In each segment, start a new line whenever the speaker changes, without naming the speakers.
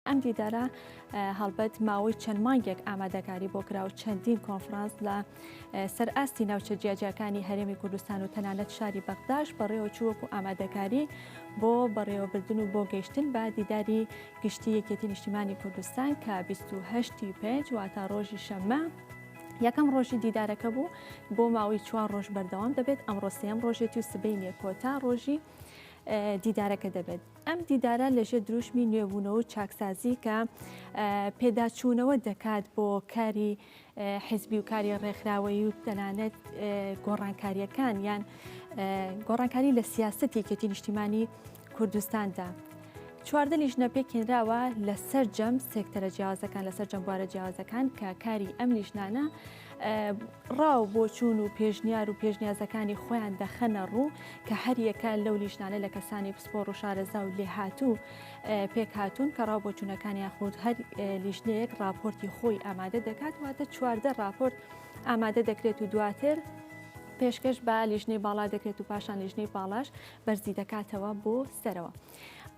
ئەم دیدارە هەڵبەت ماوەی چەند مانگێک ئامادەکاری بۆ کراو چەندین کۆنفرانس لە سەر ئاستی ناوچە جیاجیاکانی هەرێمی کوردستان و تەنانەت شاری بەغداش بەڕێوە چووەکو ئامادەکاری بۆ بەڕێوەبردن و بۆ گەیشتن بە دیداری گشتی یەکێتی نیشتیمانی کوردستان کە 28 پێنج واتا ڕۆژی شەممە یەکەم ڕۆژی دیدارەکە بوو بۆ ماوەی چوار ڕۆژ بەردەوام دەبێت ئەمڕۆ سێم ڕۆژێتی و سبینێ کۆتا ڕۆژی دیدارەکە دەبێت ئەم دیدارە لەژێر دروشمی نوێبوونەوە و چاکسازی کە پێداچوونەوە دەکات بۆ کاری حزبی و کاری ڕێکخراوەیی و تەنانەت گۆڕانکاریەکان یان گۆڕانکاری لە سیاستی کێتی نیشتیمانی کوردستاندا. چواردە لیژنە پێکێنراوە لەسەر جەم سێکتەرە جیاوازەکان لەسەر جەمبارە جیاوازەکان کە کاری ئەم لیژنانە ڕا و بۆچوون و پێشنیار و پێشنیازەکانی خۆیان دەخەنە ڕوو کە هەریەکە لەو لیژنانە لە کەسانی پسپۆڕ و شارەزا و لێهاتوو پێک هاتوون کە ڕا بۆچوونەکانی یاخود هەر لیژنەیەک راپۆرتی خۆی ئامادە دەکات واتە چواردە راپۆرت ئامادە دەکرێت و دواتر پێشکەش بە لیژنەی باڵا دەکرێت و پاشان لیژنەی باڵاش بەرزی دەکاتەوە بۆ سەرەوە.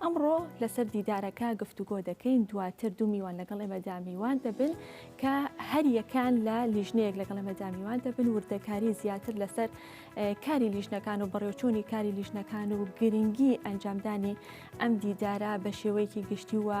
ئەمڕۆ لەسەر دیدارەکە گفتوگۆ دەکەین دواتر دوو میوان لەگەڵ ئێمەدا میوان دەبن کە هەریەکان لە لیژنەیەک لەگەڵ ئێمەدا میوان دەبن وردەکاری زیاتر لەسەر کاری لیژنەکان و بەڕێوچۆنی کاری لیژنەکان و گرنگی ئەنجامدانی ئەم دیدارە بە شێوەیەکی گشتی وە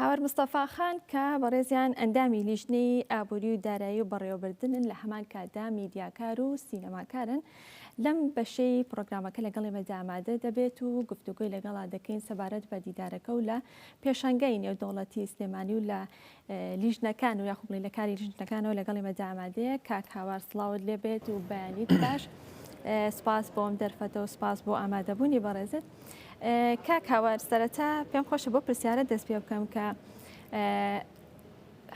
هاوار مستەفا خان کە بەڕێزیان ئەندامی لیژنەی ئابووری و دارایی و بەڕێوەبردنن لە هەمان کاتدا میدیاکار و سینەماکارن لەم بەشەی پرۆگرامەکە لەگەڵ ئێمە دامادە دەبێت و گفتوگوی لەگەڵا دەکەین سەبارەت بە دیدارەکە و لە پێشانگای نێودەوڵەتی سلێمانی و لە لیژنەکان و یاخوب بڵێ لە کاری لیژنەکانەوە لەگەڵ ئێمەدا ئامادەیە کاک هاوار سڵاوت لێ بێت و بەیانیت باش سپاس بۆم دەرفەتە و سپاس بۆ ئامادەبوونی بەڕێزت کاک هاوار سەرەتا پێم خۆشە بۆ پرسیارە دەست پێ بکەم کە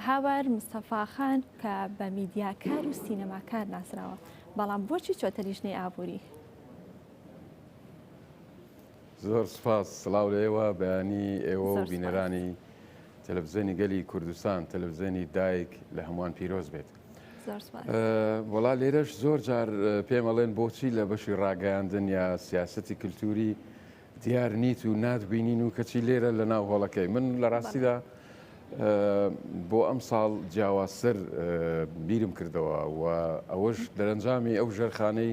هاوار مستەفاخان کە بە میدیاکار و سینەماکار ناسراوە بەڵام بۆچی چۆتە لیژنەی ئابووری
زۆر سوپاس، سڵاو لە ئێوە بەیانی ئێوە و بینەرانی تەلەفزیۆنی گەلی کوردستان، تەلەفزیۆنی دایک لە هەمووان پیرۆز بێت. وەڵا لێرەش زۆر جار پێمەڵێن بۆچی لە بەشی ڕاگەیاندن یا سیاستی کللتوری دیار نیت و ناتبینین و کەچی لێرە لە ناو هۆڵەکەی من لە ڕاستیدا بۆ ئەم ساڵ جیاوازتر بیرم کردەوە و ئەوەش دەرەنجامی ئەو ژێرخانەی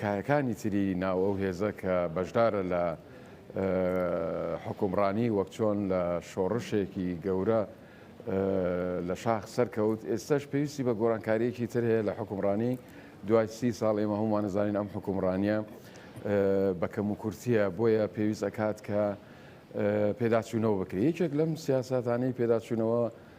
کایەکانی تری ناو ئەو هێزە کە بەشدارە لە حکومڕانی وەک چۆن لە شۆڕشێکی گەورە لە شاخ سەرکەوت ئێستش پێویستی بە گۆرانکاریەکی تر هەیە لە حکومڕانی دوای سی ساڵ ئێمە هەمووان نزانین ئەم حکومڕانیە بە کەم و کورتیە بۆیە پێویست ئەکات کە پێداچوونەوە بکرێت یەکێک لەم سیاستانەی پێداچوونەوە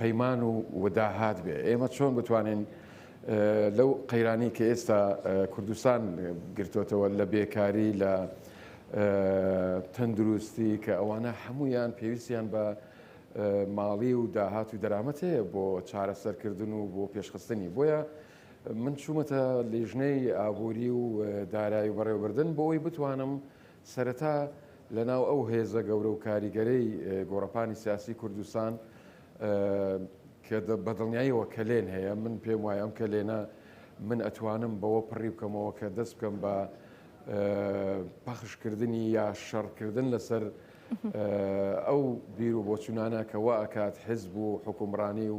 پەیمان و داهات بێ ئێمە چۆن بتوانین لەو قەیرانی کە ئێستا کوردستان گرتوتەوە لە بێکاری لە تەندروستی کە ئەوانە هەمویان پێویستیان بە ماڵی و داهات و دەرامەت هەیە بۆ چارەسەرکردن و بۆ پێشخستنی بۆیە من چوومەتە لیژنەی ئابووری و دارایی و بەڕێوەبردن بۆ ئەوی بتوانم سەرەتا لەناو ئەو هێزە گەورە و کاریگەرەی گۆڕەپانی سیاسی کوردستان کە بە دڵنیاییەوە کەلێن هەیە، من پێم وایە ئەم کەلێنە من ئەتوانم بەوە پڕی بکەمەوە کە دەست بکەم بە پەخشکردنی یا شەڕکردن لەسەر ئەو بیر و بۆچوونانە کە وا ئەکات حزب و حکومڕانی و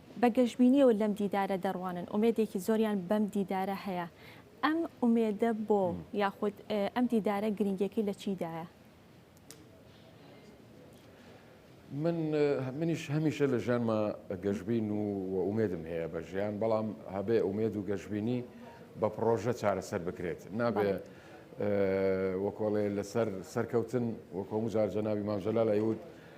بە گەشبینیەوە لەم دیدارە دەڕوانن، ئومێدێکی زۆریان بەم دیدارە هەیە، ئەم ئومێدە بۆ یاخود ئەم دیدارە گرنگیەکەی لە چیدایە؟
من منیش هەمیشە لە ژیانمە گەشببین و ئومێدم هەیە بە ژیان بەڵام هەبێ ئومێد و گەشببینی بە پرۆژە چارەسەر بکرێت نابێ وەکۆڵێ لەسەر سەرکەوتن وەکۆم جار جەناوی مامزەلا لەیوت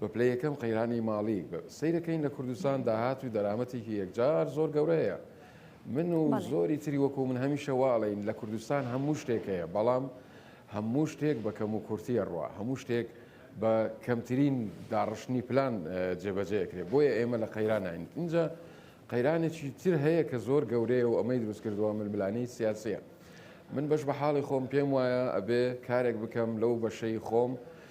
بە پلەی یەکەم قەیرانی ماڵی سەیرەکەین لە کوردستان داهات و دەرامەتێکی یەکجار زۆر گەورە هەیە من و زۆری تری وەکو من هەمیشە واڵین لە کوردستان هەموو شتێک هەیە بەڵام هەموو شتێک بە کەم و کورتیە ڕوە هەموو شتێک بە کەمترین داڕشتنی پلان جێبەجەکرێت بۆیە ئێمە لە قەیرانین اینجا قەیرانێکی تر هەیە کە زۆر گەورەیە و ئەمەی دروست کردووە ململانەی سیاسیە من بەش بە حاڵی خۆم پێم وایە ئەبێ کارێک بکەم لەو بەشەی خۆم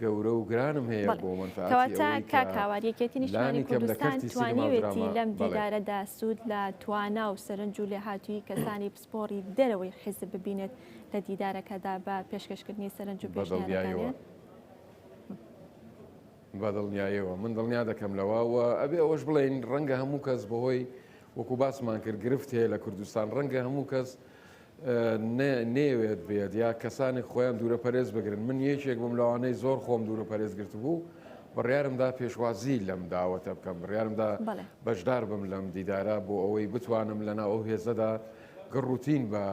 گەورە و گرانم هەیە بۆ مەنفەعەتی ئەوەی کە کاک
هاوار یەکێتی نیشتمانی کوردستان توانیوێتی لەم دیدارەدا سوود لە توانا و سەرنج و لێهاتووی کەسانی پسپۆری دەرەوەی حیزب ببینێت لە دیدارەکەدا بە پێشکەشکردنی سەرنج و پێشنیارەکانی
بە دڵنیایەوە من دڵنیا دەکەم لەوە و ئەبێ ئەوەش بڵین ڕەنگە هەموو کەس بەهۆی وەکو باسمان کرد گرفت هەیە لە کوردستان ڕەنگە هەموو کەس نەیەوێت بێت یا کەسانێک خۆیان دوورە پەرێز بگرن من یەکێک بووم لەوانەی زۆر خۆم دوورە پەرێز گرتبوو بڕیارمدا پێشوازی لەم داوەتە بکەم بڕیارمدا بەشدار بم لەم دیدارە بۆ ئەوەی بتوانم لەنا ئەو هێزەدا گەڕوتین بە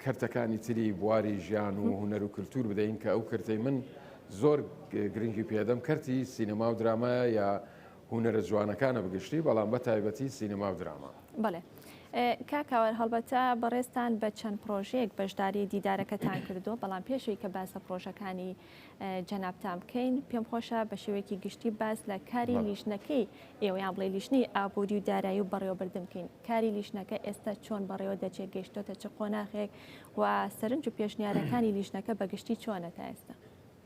کەرتەکانی تری بواری ژیان و هوەر و کللتور بدەین کە ئەو کردەی من زۆر گرنگی پێدەم کەرتی سینەما و درامایە یا هونەرە جوانەکانە بگشتی بەڵام بە تایبەتی سینەما و دراما. بەڵێ
کاک ئاوار هەڵبەتە بەڕێزتان بە چەند پڕۆژەیەک بەشداری دیدارەکەتان کردووە بەڵام پێشەوەی کە باس لە پڕۆژەکانی جەنابتان بکەین پێم خۆشە بە شێوەیەکی گشتی باس لە کاری بەڵێ. لیژنەکەی ئێوەیان بڵێ لیژنەی ئابووری و دارایی و بەڕێوەبردن بکەین کاری لیژنەکە ئێستا چۆن بەڕێوە دەچێت گەیشتۆتە چ قۆناخێک و سەرنج و پێشنیارەکانی لیژنەکە بە گشتی چۆنە تا ئێستا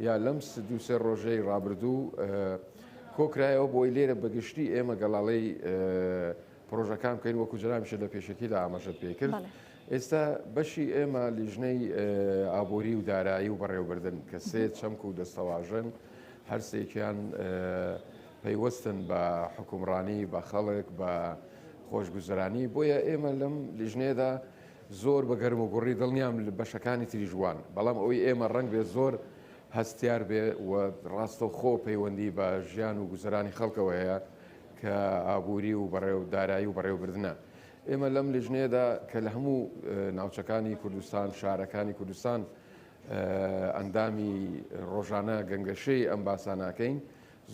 یا لەم دوو سێ ڕۆژەی ڕابردوو کۆکرایەوە بۆی لێرە بەگشتی ئێمە گەڵاڵەی پرۆژەکان بکەین وەکو جرامیشە لە پێشەکیدا ئاماژەت پێکرد ئێستا بەشی ئێمە لیژنەی ئابووری و دارایی و بەڕێوبردن کە سێ چەمک و دەستەواژن هەرسێکیان پەیوەستن بە حکومڕانی بە خەڵک بە خۆشگوزرانی بۆیە ئێمە لەم لیژنێدا زۆر بە گەرم و گوڕی دڵنیام بەشەکانی تریش وان، بەڵام ئەوەی ئێمە ڕەنگ بێ زۆر هەستیار بێ و ڕاستەوخۆ پەیوەندی بە ژیان و گوزەرانی خەڵکەوە هەیە کە ئابووری و بەڕێو دارایی و بەڕێوبردنە. ئێمە لەم لیژنەیەدا کە لە هەموو ناوچەکانی کوردستان، شارەکانی کوردستان ئەندامی ڕۆژانە گەنگەشەی ئەم باسانە ئەکەین،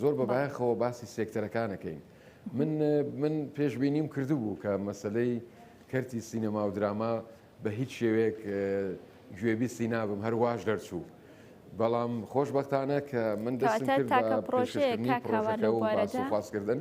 زۆر بە بایەخەوە باسی سێکتەرەکانەکەین. من من پێشبینیم کردبوو کە مەسلەی کەرتی سینەما و دراما بە هیچ شێوەیەک گوێبیستی نابم هەر واش دەرچوو. بەڵام خۆشببختانە کە من دەستم کرد بە پێشکەشکردنی پڕۆژەکە و باسوخواسکردن.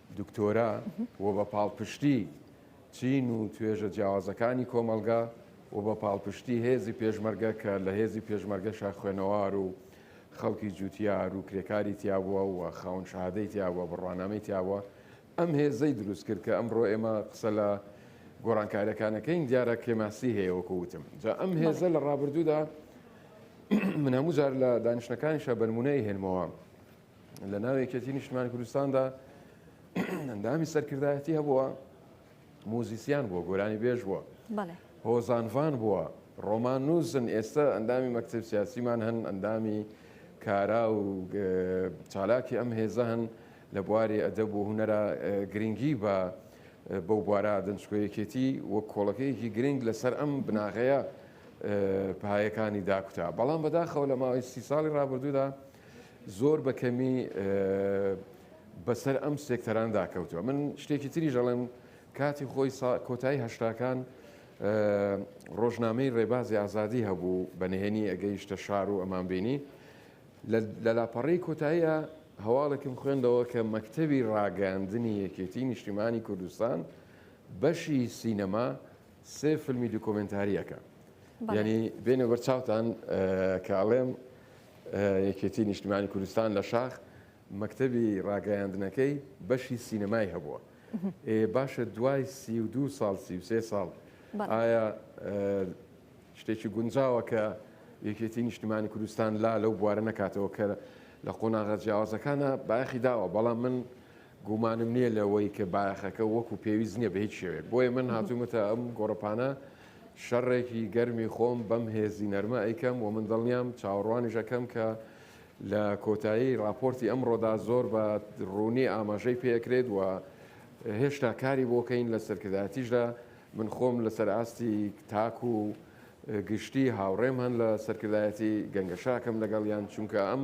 دکتۆرا و بە پاڵپشتی چین و توێژە جیاوازەکانی کۆمەڵگا و بە پاڵپشتی هێزی پێشمەرگە کە لە هێزی پێشمەرگەشە خوێنەوار و خەڵکی جوتیار و کرێکاری تیابووە و خاون شەهادەی تیابووە بڕوانامەی تیابووە ئەم هێزەی دروست کرد کە ئەمڕۆ ئێمە قسە لە گۆڕانکاریەکانەکەین دیارە کرێماسی هەیە وەکو وتم جا ئەم هێزە لە ڕابردوودا من هەموو جار لە دانیشتەکانیشە بەرمونەی هێنمەوە لە ناو یەکێتی نیشتمانی کوردستاندا ئەندامی سەرکردایەتی هەبووە موزیسیان بووە گۆرانی بێژ بووە هۆزانڤان بووە ڕۆمان نووسن ئێستا ئەندامی مەکتب سیاسیمان هەن ئەندامی کارا و چالاکی ئەم هێزە هەن لە بواری ئەدەب و هوەرە گرنگی بە بەو بوارە دەنجکۆیەکێتی وەک کۆڵەکەیەکی گرنگ لەسەر ئەم بناغەیە پایەکانی داکوتا بەڵام بەداخەوە لە ماوەی سی ساڵی ڕابردوودا زۆر بە کەمی بەسەر ئەم سێکتەراندا کەوتووە من شتێکی تریش ئەڵێم کاتی خۆی کۆتایی هەشتاکان ڕۆژنامەی ڕێبازی ئازادی هەبوو بە نهێنی ئەگەیشتە شار و ئەمان بینی لە لاپەڕی کۆتاییە هەواڵێکم خوێندەوە کە مەکتەوی ڕاگەاندنی یەکێتی نیشتیمانی کوردستان بەشی سینەما سێ فیلمی دوکۆمنتاریەکە ینی بێنە بەر چاوتان کاڵێم یەکێتی نیشتمانی کوردستان لە شاخ مەکتەبی ڕاگەیاندنەکەی بەشی سینەمای هەبووە ئێ باشە دوای سی و دوو ساڵ سی و سێ ساڵ ئایا شتێکی گونجاوە کە یەکێتی نیشتمانی کوردستان لا لەو بوارە نەکاتەوە کە لە قۆناغە جیاوازەکانە بایەخی داوە بەڵام من گومانم نییە لەوەی کە بایەخەکە وەکو پێویست نییە بە هیچ شێوەیەک، بۆیە من هاتوومەتە ئەم گۆڕەپانە شەڕێکی گەرمی خۆم بەم هێزی نەرمە ئەیکەم و من دڵنیام چاوەڕوانیش ئەکەم کە لە کۆتایی ڕاپۆرتی ئەمڕۆدا زۆر بە ڕوونی ئاماژەی پێ ئەکرێت و هێشتا کاری بۆ کەین لە سەرکردایەتیشدا من خۆم لەسەر ئاستی تاک و گشتی هاوڕێم هەن لە سەرکردایەتی گەنگەشاکەم لەگەڵیان چونکە ئەم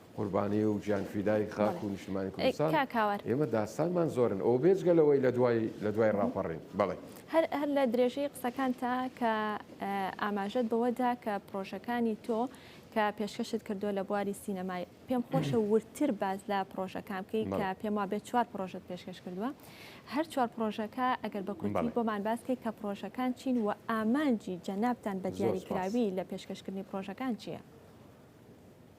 قوربانی و گیان فیدای خاک و نیشتمانی کوردستان ئێمە داستانمان زۆرن ئەو بێجگە لەوەی لە دوای لە دوای ڕاپەڕین بەڵێ هەر هەر لە
درێژەی قسەکان تا کە ئاماژەت بەوەدا کە پرۆژەکانی تۆ کە پێشکەشت کردووە لە بواری سینەمای پێم خۆشە ورتر باز لە پرۆژەکان بکەیت کە پێم وا بێت چوار پرۆژت پێشکەش کردووە هەر چوار پرۆژەکە ئەگەر بە کوردی بۆمان باسکەی کە پرۆژەکان چین و ئامانجی جەنابان بە دیاریکراوی لە پێشکەشکردنی پرۆژەکان چییە؟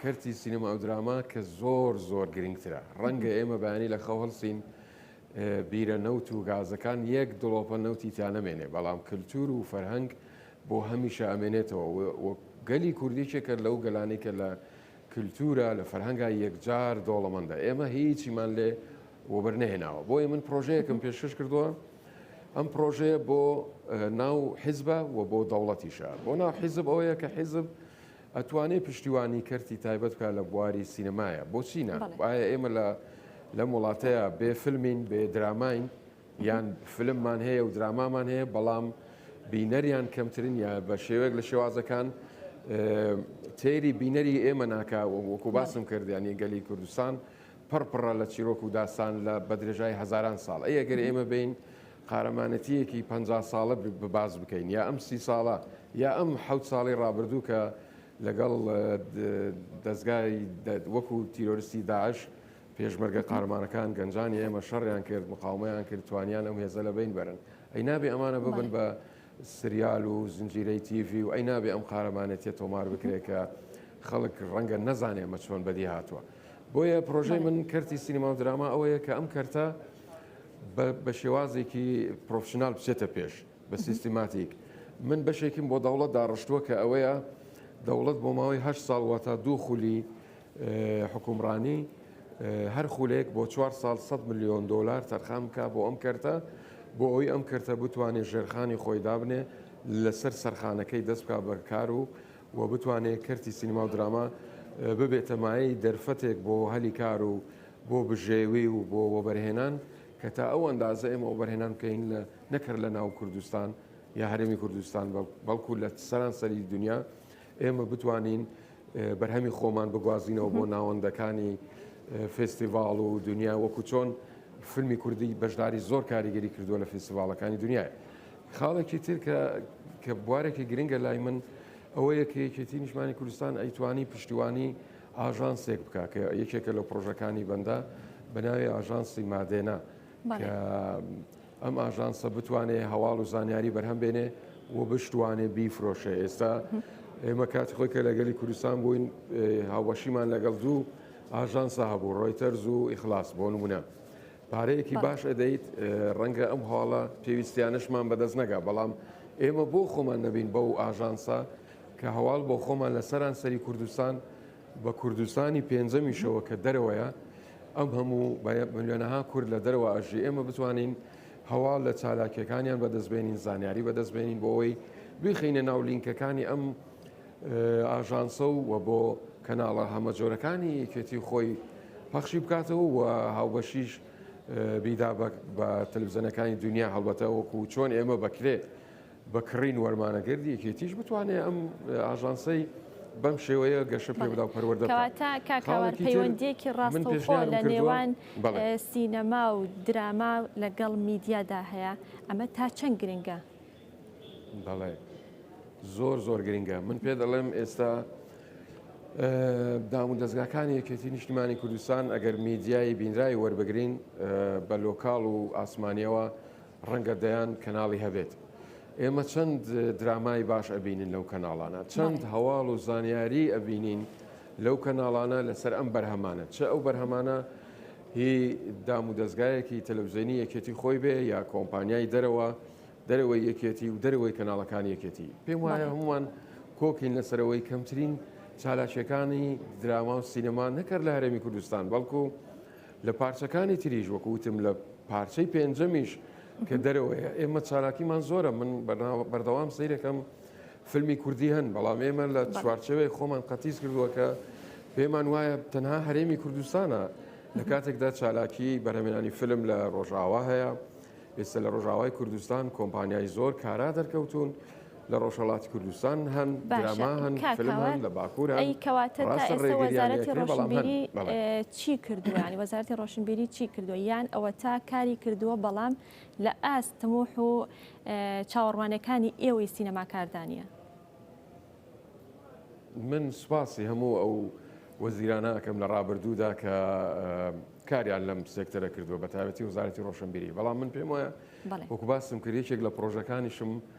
کەرتی سینەما و دراما کە زۆر زۆر گرنگترە. ڕەنگە ئێمە بەیانی لە خەو هەڵسین بیرە نەوت و گازەکان یەک دڵۆپە نەوتی تیا نەمێنێ، بەڵام کلتور و فەرهەنگ بۆ هەمیشە ئەمێنێتەوە و گەلی کورد یەکێکە لەو گەلانەی کە لە کلتورا لە فەرهەنگا یەکجار دۆڵەمەندە. ئێمە هیچیمان لێ وەبەر نەهێناوە. بۆیە من پرۆژەیەکم پێشکەش کردووە، ئەم پرۆژەیە بۆ ناو حیزبە و بۆ دەوڵەتیشە. بۆ ناو حیزب ئەوەیە کە حیزب ئەتوانێ پشتیوانی کەرتی تایبەت بکا لە بواری سینەمایا بۆچی نا؟ بەڵێ. ئایا ئێمە لە لەم وڵاتەیا بێ فلمین بێ دراماین یان فلممان هەیە و درامامان هەیە بەڵام بینەریان کەمترین یا بە شێوەیەک لە شێوازەکان تێری بینەری ئێمە ناکا وەکو باسم کردیانی گەلی کوردستان پڕپڕە لە چیرۆک و داستان لە بەدرێژای هەزاران ساڵ ئەگەر ئێمە بین قارەمانەتییەکی پەنجا ساڵە باس بکەین یا ئەم سی ساڵە یا ئەم حەوت ساڵی ڕابردوو کە لەگەڵ دەزگای وەکو تیرۆرستی داعش پێشمەرگە قارەمانەکان گەنجانی ئێمە شەڕیان کرد مقاومەیان کرد توانیان ئەم هێزە لە بین بەرن ئەی نابێ ئەمانە ببن بە سریال و زنجیرەی تیڤی و ئەی نابێ ئەم قارەمانێتە تۆمار بکرێت کە خەڵک ڕەنگە نەزانێ مە چۆن بەدی هاتووە بۆیە پرۆژەی من کەرتی سینما و دراما ئەوەیە کە ئەم کەرتە بە شێوازێکی پرۆفشنال بچێتە پێش بە سیستیماتیک من بەشێکیم بۆ دەوڵەت داڕشتووە کە ئەوەیە دەوڵەت بۆ ماوەی هە ساڵ واتە دوو خولی حکومڕانی هەر خولێک بۆ چوار ساڵ 100 میلیۆن دلار تەرخان بکە بۆ ئەم کەرتە بۆ ئەوی ئەم کەرتە بتوانێت ژێرخانی خۆی دابنێ لەسەر سەرخانەکەی دەست بک بەکار و و بتوانێت کەرتی سینما و دراما ببێتە مایەی دەرفەتێک بۆ هەلی کار و بۆ بژێوی و بۆ وەبەرهێنان کە تا ئەو ئەندازە ئێمە وەبەرهێنان بکەین لە نەک هەر لە ناو کوردستان یا هەرێمی کوردستان بەڵکو لە سەرانسەری دنیا ئێمە بتوانین بەرهەمی خۆمان بگوازینەوە بۆ ناوەندەکانی فستیڤاڵ و دنیا وەکو چۆن فیلمی کوردی بەشداری زۆر کاریگەری کردووە لە فستیڤالەکانی دنیای خاڵێکی تر کە کە بوارێکی گرنگە لای من ئەوە یەکەیەکێتی نیشمانی کوردستان ئەیتوانی پشتیوانی ئاژانسێک بکا کە یەکێکە لە پڕۆژەکانی بەندە بە ناوی ئاژانسی مادێنا کە ئەم ئاژانسە بتوانێت هەواڵ و زانیاری بەرهەم بێنێ و بشتوانێ بیفرۆشە ئێستا ئێمە کات خۆی کە لەگەلی کوردستان بووین هاوبەشیمان لەگەڵ دوو ئاژانسا هەبوو ڕۆیتەرز و ئیخلاس بۆ نمونە پارەیەکی باش ئەدەیت ڕەنگە ئەم هاڵە پێویستیانشمان بەدەست نەگا بەڵام ئێمە بۆ خۆمان نەبین بەو ئاژانسا کە هەواڵ بۆ خۆمان لە سەرانسەری کوردستان بە کوردستانی پێنجەمیشەوە کە دەرەوەیە ئەم هەموو ملیۆنەها کورد لە دەرەوە ئەژی ئێمە بتوانین هەواڵ لە چالاکیەکانیان بەدەستبێنین زانیاری بەدەستبێنین بۆ ئەوەی بخینە ناو لینکەکانی ئەم ئاژانسە و و بۆ کەناڵە هەمە جۆرەکانی یەکێتی خۆی پەخشی بکاتەوە و هاوبەشیش بیدا بە تەلوزەنەکانی دنیا هەڵبەتە وەکو چۆن ئێمە بەکرێ بە کڕین وەرمانەگەردی یەکێتیش بتوانێ ئەم ئاژانسەی بەم شێوەیە گەشە پێ بدا و پەروەردە بکا. کەواتە کاک هاوار خاڵێکی
تر پەیوەندییەکی من ڕاستەوخۆ پێشنیارم لە کردووە نێوان بەڵێ. ئێ، سینەما و دراما لەگەڵ میدیادا هەیە، ئەمە تا چەند گرنگە؟
بەڵێ. زۆر زۆر گرنگە. من پێ دەڵێم ئێستا ئێ، دامودەزگاکانی یەکێتی نیشتیمانی کوردستان ئەگەر میدیای بینرای وەربگرین ئێ، بە لۆکاڵ و ئاسمانییەوە ڕەنگە دەیان کەناڵی هەبێت. ئێمە چەند درامای باش ئەبینین لەو کەناڵانە چەند هەواڵ و زانیاری ئەبینین لەو کەناڵانە لەسەر ئەم بەرهەمانە چ ئەو بەرهەمانە هی دام و دەستگایەکی تەلەوزیێنی یەکێتی خۆی بێ یا کۆمپانیای دەرەوە دەرەوەی یەکێتی و دەرەوەی کەناڵەکان یەکێتی پێم وایە هەمووان کۆکین لەسەرەوەی کەمترین چالاکیەکانی دراما و سینەما نەکرد لە هەرێمی کوردستان بەڵکو لە پارچەکانی تریش وەکو وتم لە پارچەی پێنجەمیش کە دەرەوەیە ئێمە چالاکیمان زۆرە من بەردەوام سیرەکەم فیلمی کوردی هەن بەڵام ئێمە لە چوارچەوەی خۆمان قەتیس کردووە کە پێمان وایە تەنها هەرێمی کوردستانە لە کاتێکدا چالاکی بەرەمێنانی فیلم لە ڕۆژاوا هەیە ئێستا لە ڕۆژاوای کوردستان کۆمپانیای زۆر کارا دەرکەوتون لە ڕۆژهەڵاتی کوردستان هەن، دراما هەن، فیلم هەن، لە باکوور هەن، ڕاستە ڕێگرییان لێ کرا بەڵام هەن. کاکە
ئەوە ئەی چی کردووە یانی وەزارەتی ڕۆشنبیری چی کردووە یان ئەوەتا کاری کردووە بەڵام لە ئاست تموح و چاوەڕوانیەکانی ئێوەی سینەماکاردا نییە؟
من سوپاسی هەموو ئەو وەزیرانە ئەکەم لە ڕابردوودا کە کاریان لەم سێکتەرە کردووە بە تایبەتی وەزارەتی ڕۆشنبیری بەڵام من پێم وایە وەکو باسم کرد یەکێک لە پرۆژەکانیشم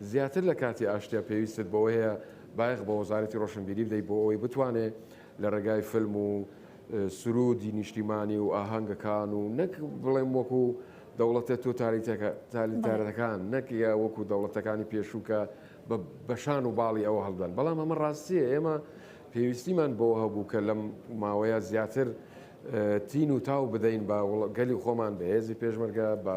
زیاتر لە کاتی ئاشتیا پێویستت بەوەیە بایەخ بە وەزارەتی ڕۆشنبیری بدەیت بۆ ئەوەی بتوانێت لە ڕێگای فیلم و سروودی نیشتیمانی و ئاهەنگەکان و نەک بڵێم وەکو دەوڵەتە تۆتالیتارەتەکان نەک وەکو دەوڵەتەکانی پێشوو کە بە بەشان و باڵی ئەوە هەڵدان بەڵام ئەمە ڕاستیە ئێمە پێویستیمان بۆ هەبوو کە لەم ماوەیە زیاتر تین و تاو بدەین بە گەلی خۆمان بە هێزی پێشمەرگە بە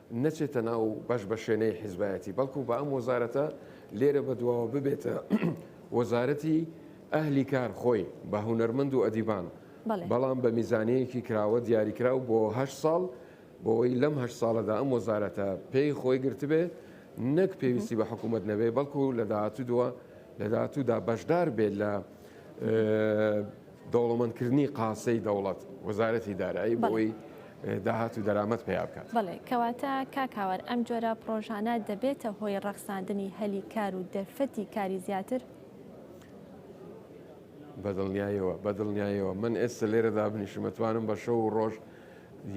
نەچێتە ناو بەش بەشێنەی حیزبایەتی بەڵکو بە ئەم وەزارەتە لێرە بە دواوە ببێتە وەزارەتی ئەهلی کار خۆی بە هونەرمەند و ئەدیبان بەڵام بە میزانەیەکی کراوە دیاریکراو بۆ هەشت ساڵ بۆی لەم هەشت ساڵەدا ئەم وەزارەتە پێی خۆی گرتبێ نەک پێویستی بە حکوومەت نەبێ بەڵکو لە داهاتوو دووە لە داهاتوودا بەشدار بێت لە دەوڵەمەندکردنی قاسەی دەوڵەت، وەزارەتی دارایی بۆی داهات و دەرامەت پەیا بکات. بەڵێ، کەواتە
کاک هاوار ئەم جۆرە پڕۆژانە دەبێتە هۆی ڕەخساندنی هەلی کار و دەرفەتی کاری زیاتر؟ بەدڵنیایەوە، بەدڵنیایەوە، من ئێستە لێرە دابنیشم ئەتوانم بە شەو و ڕۆژ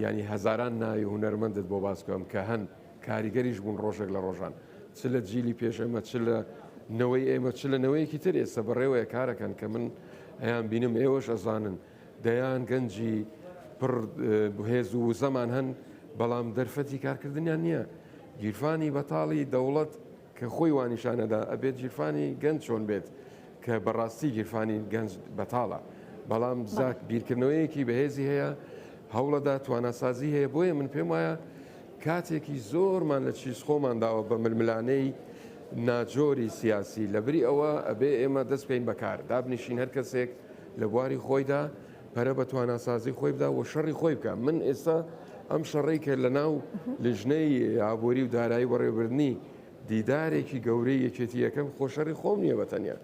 یانی هەزاران ناوی هونەرمەندت بۆ باس بکەم کە هەن، کاریگەریش بوون ڕۆژێک لە ڕۆژان چ لە جیلی پێش ئێمە چ لە نەوەی ئێمە چ لە نەوەیەکی تر ئێستا بەڕێوەیە کارەکەن کە من ئەیان بینم ئێوەش ئەزانن دەیان گەنجی پڕ بهێز و وزەمان هەن بەڵام دەرفەتی کارکردنیان نییە گیرفانی بەتاڵی دەوڵەت کە خۆی وانیشانەدا ئەبێت گیرفانی گەنج چۆن بێت کە بەڕاستی گیرفانی گەنج بەتاڵە بەڵام زاک بیرکردنەوەیەکی بەهێزی هەیە هەوڵەدا تواناسازی هەیە بۆیە من پێم وایە کاتێکی زۆرمان لە چیز خۆمان داوە بە ململانەی ناجۆری سیاسی لەبری ئەوە ئەبێ ئێمە دەست بکەین بەکار دابنیشین هەر کەسێک لە بواری خۆیدا پەرە بە تواناسازی خۆی بدا و شەڕی خۆی بکە من ئێستا ئەم شەڕی کە لە ناو لیژنەی ئابووری و دارایی بەڕێوبردننی دیدارێکی گەورەی یەکێتی یەکەم خۆشەری خۆم نییە بەتەنیا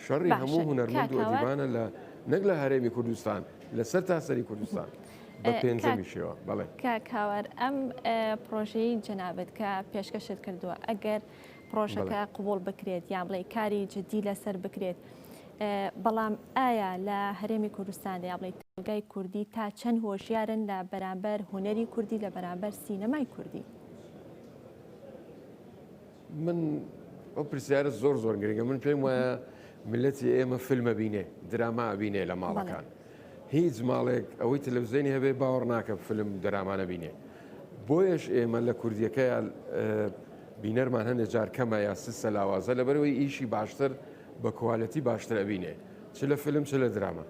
شەڕی هەموو هونەرمەند وەدیبانە لە نەک لە هەرێمی کوردستان لەسەر تاسەری کوردستان بە پێنجەمی شێوە بەڵێ کاکاوار ئەم پرۆژەی جەنابەت کە پێشکەشت کردووە ئەگەر پڕۆژەکە قوبوڵ بکرێت یان بڵێ کاری جددی لەسەر بکرێت بەڵام ئایا لە هەرێمی کوردستان یا بڵێ تەلگای کوردی تا چەند هۆشیارن لە بەرامبەر هوەری کوردی لە بەرامبەر سینەمای کوردی
من ئەو پرسیارە زۆر زۆر گرنگە من پێم وایە ملەتی ئێمە فیلمە بینێ دراما بینێ لە ماڵەکان هیچ ماڵێک ئەوەی تەلەفزێنی هەبێ باوەڕ ناکەم فلم دراما نەبینێ بۆیەش ئێمە لە کوردیەکە یا بینەرمان هەندێک جار کەمە یا سسە لاوازە لەبەرەوەی ئیشی باشتر بە کوالەتی باشتر ئەبینێ چ لە فلم چ لە دراما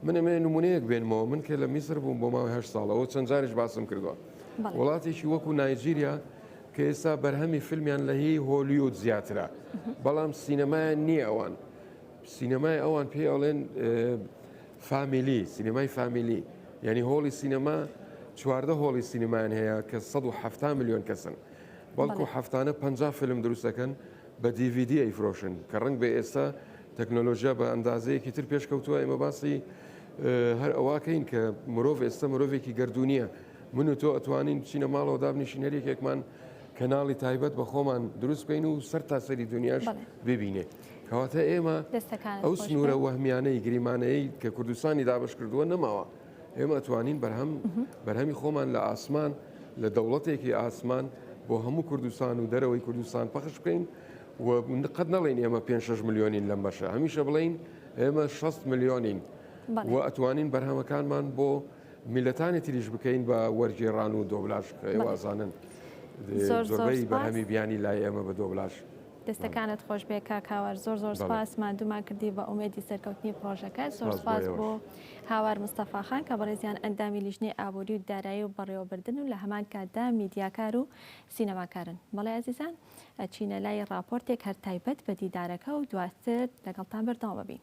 من ئەمێ نمونەیەک بێنمەوە من کە لە میسر بووم بۆ ماوەی هە ساڵەوە چەند جاریش باسم کردووە وڵاتێکی وەکو نایجیریا کە ئێستا بەرهەمی فیلمیان لە هی هۆلیود زیاترە بەڵام سینەمایان نییە ئەوان سینەمای ئەوان پێی ئەڵێن فامیلی سینەمای فامیلی یعنی هۆڵی سینەما چواردە هۆڵی سینەمان هەیە کە 1970 میلیۆن کەسن بەڵکو هەفتانە پ فلم دروستەکەن بە DVD ئەیفرۆشن کە ڕنگ بە ئێستا تەکنۆلۆژیا بە ئەندازەیەکی تر پێشکەوتووە ئێمە باسی هەر ئەوواکەین کە مرۆڤ ئێستا مرۆڤێکی گردردونیە من و تۆ ئەتوانین چینە ماڵەوە دابنیشینەرێکێکمان کەناڵی تایبەت بە خۆمان دروست بین و سەر تاسەری دنیاش ببینێت. کەواتە ئێمە ئەو سنوورە وەهمیانەی گریمانەیە کە کوردستانی دابش کردووە نەماوە ئێمە توانین بەرهەم بەرهەمی خۆمان لە ئاسمان لە دەوڵەتێکی ئاسمان بۆ هەموو کوردستان و دەرەوەی کوردستان پەخش بکەین و قەت نەڵێن ئێمە 5 میلیۆنین لەم بەشە هەمیشە بڵین ئێمە 6 میلیۆنین و ئەتوانین بەرهەمەکانمان بۆ میلەتانی تریش بکەین بە وەرگێڕان و دۆبلاش وازانن زۆربەی بەهامی بیانی لای ئێمە بە دۆبلاش.
دەستەکانت خۆشبێ کاک هاوار زۆر زۆر سپاس ماندوومان کردی بە ئومێدی سەرکەوتنی پڕۆژەکە زۆر سپاس بۆ هاوار مستەفاخان کە بەڕێزیان ئەندامی لیژنەی ئابووری و دارایی و بەڕێوەبردن و لە هەمان کاتدا میدیاکار و سینەماکارن بەڵێ ئازیزان ئەچینە لای ڕاپۆرتێک هەر تایبەت بە دیدارەکە و دواتر لەگەڵتان بەردەوام بین.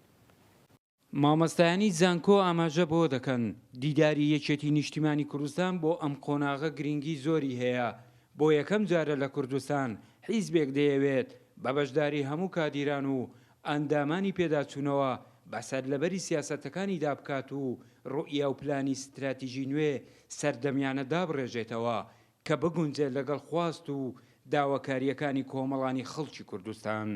مامۆستایانی زانکۆ ئاماژە بەوە دەکەن، دیداری یەکێتی نیشتیمانی کوردستان بۆ ئەم قۆناغە گرنگی زۆری هەیە، بۆ یەکەم جارە لە کوردستان حیزبێک دەیەوێت بە بەشداری هەموو کادیران و ئەندامانی پێداچوونەوە بە سەرلەبەری سیاسەتەکانیدا بکات و روئیا و پلانی ستراتیژی نوێ سەردەمیانە دابڕێژێتەوە کە بگونجێت لەگەڵ خواست و داواکارییەکانی کۆمەڵانی خەڵکی کوردستان.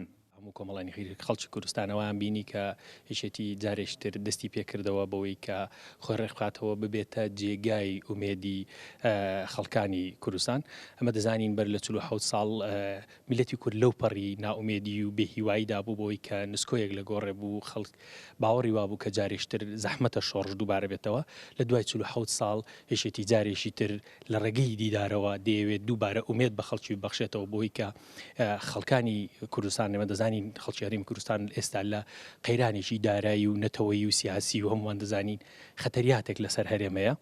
هەموو کۆمەڵانی
خەڵکی کوردستان ئەوەیان بینی کە یەکێتی جارێکی تر دەستی پێکردەوە بەوەی کە خۆی ڕێکبخاتەوە ببێتە جێگای ئومێدی خەڵکانی کوردستان. ئەمە دەزانین بەر لە چل و حەوت ساڵ میللەتی کورد لەو پەڕی نائومێدی و بێهیواییدا بوو بەوەی کە نسکۆیەک لە گۆڕێ بوو خەڵک باوەڕی وابوو کە جارێکی تر زەحمەتە شۆڕش دووبارە بێتەوە لە دوای چل و حەوت ساڵ یەکێتی جارێکی تر لە ڕێگەی دیدارەوە دەیەوێت دووبارە ئومێد بە خەڵکی ببەخشێتەوە بۆی کە خەڵکانی کوردستان لەمە دەزانین خەڵکی هەرمی کوردستان ئێستا لە قەیرانێکی دارایی و نەتەوەی و سیاسی و هەمووان دەزانین خەتەریاتێک لەسەر هەرێمەیە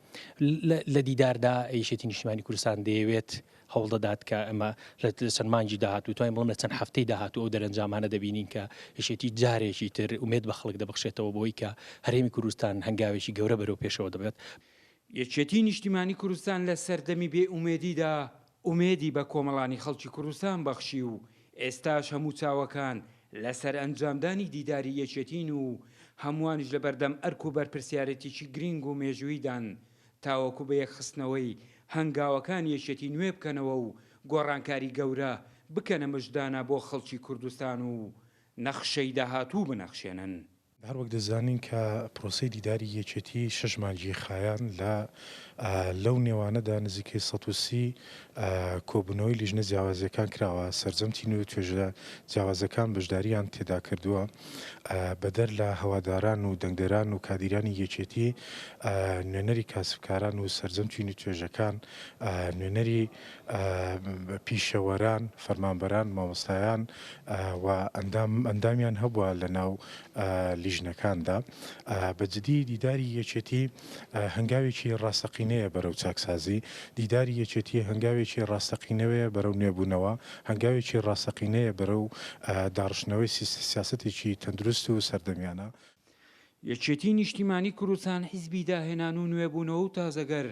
لە دیداردا ئەیشێتی نیشتمانی کوردستان دەیەوێت هەوڵدەدات کە ئەمە لە چەند مانجی داهات و توانین بڵم لە چەند هەفتەی داهات و ئەو دەرەنجامانە دەبینین کە یشێتی جارێکی تر ومێت بە خەڵک دەبخشێتەوە بۆی کە هەرێمی کوردستان هەنگاوێکی گەورە بەرەو پێشەوە دەبێت یەکێتی
نیشتیمانی کوردستان لە سەردەمی بێ ئومێدیدا ئومێدی بە کۆمەڵانی خەڵکی کوردستان بەخشی و ئێستاش هەموو چاوەکان لەسەر ئەنجامدانی دیداری یەکێتین و هەمووانیش لەبەردەم ئەرک و بەرپرسیارێتیکی گرینگ و مێژوویدان تاوەکو بە یەکخستنەوەی هەنگاوەکان یەکێتی نوێ بکەنەوە و گۆڕانکاری گەورە بکەنە مژدانە بۆ خەڵکی کوردستان و نەخشەی داهاتوو بنەخشێنن. هەروەک دەزانین
کە پرۆسەی دیداری یەکێتی شەش مانگی خایاند لە لەو نێوانەدا نزیکەی سەد و سی کۆبوونەوەی لیژنە جیاوازیەکان کراوە سەرجەم تینو و توێژە جیاوازەکان بەشداریان تێدا کردووە بەدەر لە هەواداران و دەنگدەران و کادیرانی یەکێتی نوێنەری کاسبکاران و سەرجەم تینو و توێژەکان نوێنەری پیشەوەران، فەرمانبەران، مامۆستایان و ئەندامیان هەبوە لە ناو لیژنەکاندا. بە جدی دیداری یەکێتی هەنگاوێکی ڕاستەقینەیە بەرەو چاکسازی، دیداری یەکێتی هەنگاوێکی ڕاستەقینەوەیە بەرەو نوێبونەوە، هەنگاوێکی ڕاستەقینەیە بەرەو داڕشتنەوەی سیاسەتێکی تەندروست و سەردەمیانە. یەکێتی
نیشتیمانی کوردستان حیزبی داهێنان و نوێبونەوە و تازەگەر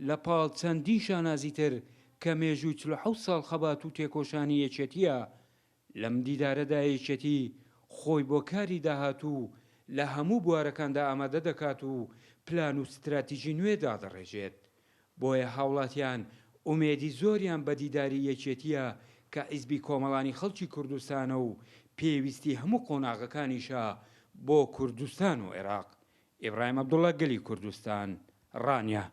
لە پاڵ چەندین شانازی تر کە مێژووی چل و حەوت ساڵ خەبات و تێکۆشانی یەکێتییە، لەم دیدارەدا یەکێتی خۆی بۆ کاری داهاتوو لە هەموو بوارەکاندا ئامادە دەکات و پلان و ستراتیجی نوێ دادەڕێژێت، بۆیە هاوڵاتیان ئومێدی زۆریان بە دیداری یەکێتییە کە حیزبی کۆمەڵانی خەڵکی کوردستانە و پێویستی هەموو قۆناغەکانیشە بۆ کوردستان و عێراق. ئیبراهیم عەبدوڵا، گەلی کوردستان. ڕانیە.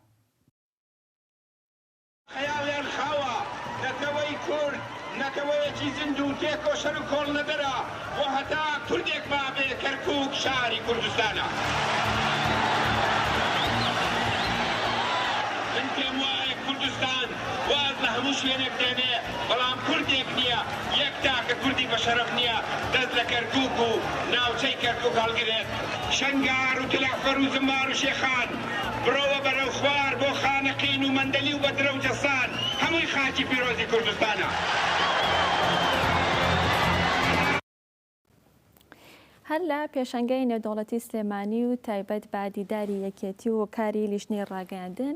خەیاڵیان خاوە، نەتەوەی کورد نەتەوەیەکی زیندوو تێکۆشەر و کۆڵنەدەرە و هەتا کوردێک مابێ کەرکووک شاری کوردستانە. من پێموایە کوردستان واز لە هەموو شوێنێک دێنێ، بەڵام کوردێک نییە، یەک تاکە کوردی بەشەرەف نییە دەست لە کەرکووک و ناوچەی کەرکووک هەڵگرێت. شنگار و تلەعفەر و زمار و شێخان بڕۆوە بەرەو خوار بۆ خانەقین و مەندەلی و بەدرە و جەسان هەمووی خاکی پیرۆزی کوردستانە.
هەر لە پێشەنگای نێودەوڵەتی سلێمانی و تایبەت بە دیداری یەکێتی و کاری لیژنەی ڕاگەیاندن،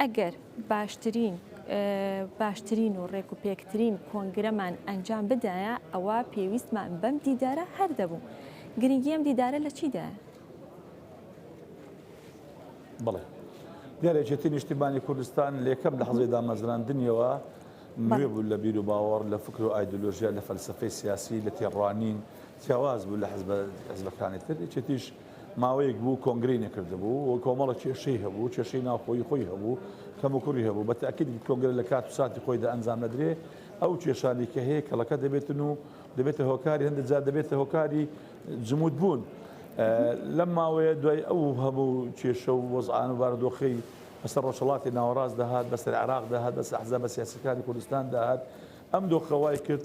ئەگەر باشترین باشترین و ڕێکوپێکترین کۆنگرەمان ئەنجام بدایە ئەوە پێویستمان بەم دیدارە هەر دەبوو گرنگی ئەم دیدارە لە چیدا؟
بڵێ گەرەێتی نیشتیمانی کوردستان لەکەم لە حەزی دامەزراندنیەوە نوێ بوو لە بیر و باوەڕ لە فکر و ئایدۆلۆژیا لە فەلسفەی سیاسی لە تێڕوانین جیاواز بوو لە حزبەکانی تر یەکێتیش ماوەیەک بوو کۆنگرەی نەکردبوو و کۆمەڵە کێشەی هەبوو، کێشەی ناوخۆیی خۆی هەبوو، کەموکوڕی هەبوو. بە تەئکید کۆنگرە لە کات و ساتی خۆیدا ئەنجام نەدرێ، ئەو کێشانەی کە هەیە کەڵەکە دەبێتن و دەبێتە هۆکاری، هەندێک جار دەبێتە هۆکاری جموودبوون. لەم ماوەیە دوای ئەو هەموو کێشە و وەزعان و بارودۆخەی بەسەر ڕۆژهەڵاتی ناوەڕاست دەهات، بەسەر عێراق دەهات، بەسەر ئەحزابە سیاسییەکانی کوردستان دەهات، ئەم دۆخە وای کرد،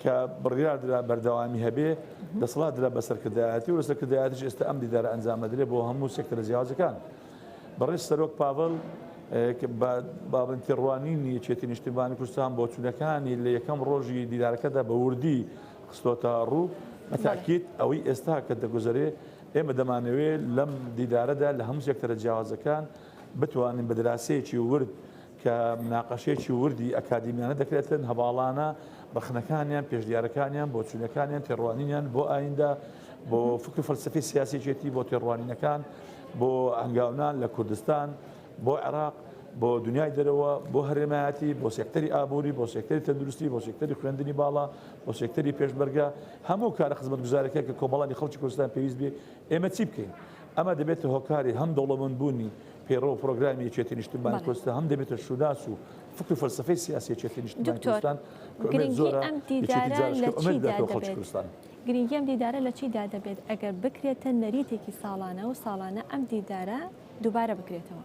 کە بڕیاردرا بەردەوامی هەبێ، دەسەڵات درا بە سەرکردایەتی و لە سەرکردایەتیش ئێستا ئەم دیدارە ئەنجام ئەدرێ بۆ هەموو سێکتەرە جیاوازەکان. بەڕێز سەرۆک پاڤل کە بە باڵن تێڕوانینی یەکێتی نیشتیمانی کوردستان بۆچوونەکانی لە یەکەم ڕۆژی دیدارەکەدا بە وردی خستۆتە ڕوو، بە تاکید ئەوەی ئێستا کە دەگوزەرێ ئێمە دەمانەوێ لەم دیدارەدا لە هەموو سێکتەرە جیاوازەکان بتوانین بە دراسەیەکی ورد کە مناقەشەیەکی وردی ئەکادیمیانە دەکرێتن، هەڤاڵانە ڕەخنەکانیان، پێشنیارەکانیان، بۆچوونەکانیان، تێڕوانینیان بۆ ئاییندە، بۆ فکر و فەلسەفەی سیاسی یەکێتی، بۆ تێڕوانینەکان، بۆ هەنگاونان لە کوردستان، بۆ عێراق، بۆ دنیای دەرەوە، بۆ هەرێمایەتی، بۆ سێکتەری ئابووری، بۆ سێکتەری تەندروستی، بۆ سێکتەری خوێندنی باڵا، بۆ سێکتەری پێشمەرگە، هەموو کارە خزمەتگوزارەکان کە کۆمەڵانی خەڵکی کوردستان پێویست بێ، ئێمە چی بکەین؟ ئەمە دەبێتە هۆکاری هەم دەوڵەمەندبوونی پەیڕەو و پرۆگرامی یەکێتی نیشتمانی کوردستان، هەم دەبێتە شووناس و فکر و فەلسەفەی سیاسی یەکێتی نیشتمانی کوردستان کە ئومێد زۆرە یەکێتی جارش کە ئومێد
بداتەوە خەڵکی کوردستان. گرنگی ئەم دیدارە لە چیدا دەبێت ئەگەر بکرێتە نەریتێکی ساڵانە و ساڵانە ئەم دیدارە دووبارە بکرێتەوە؟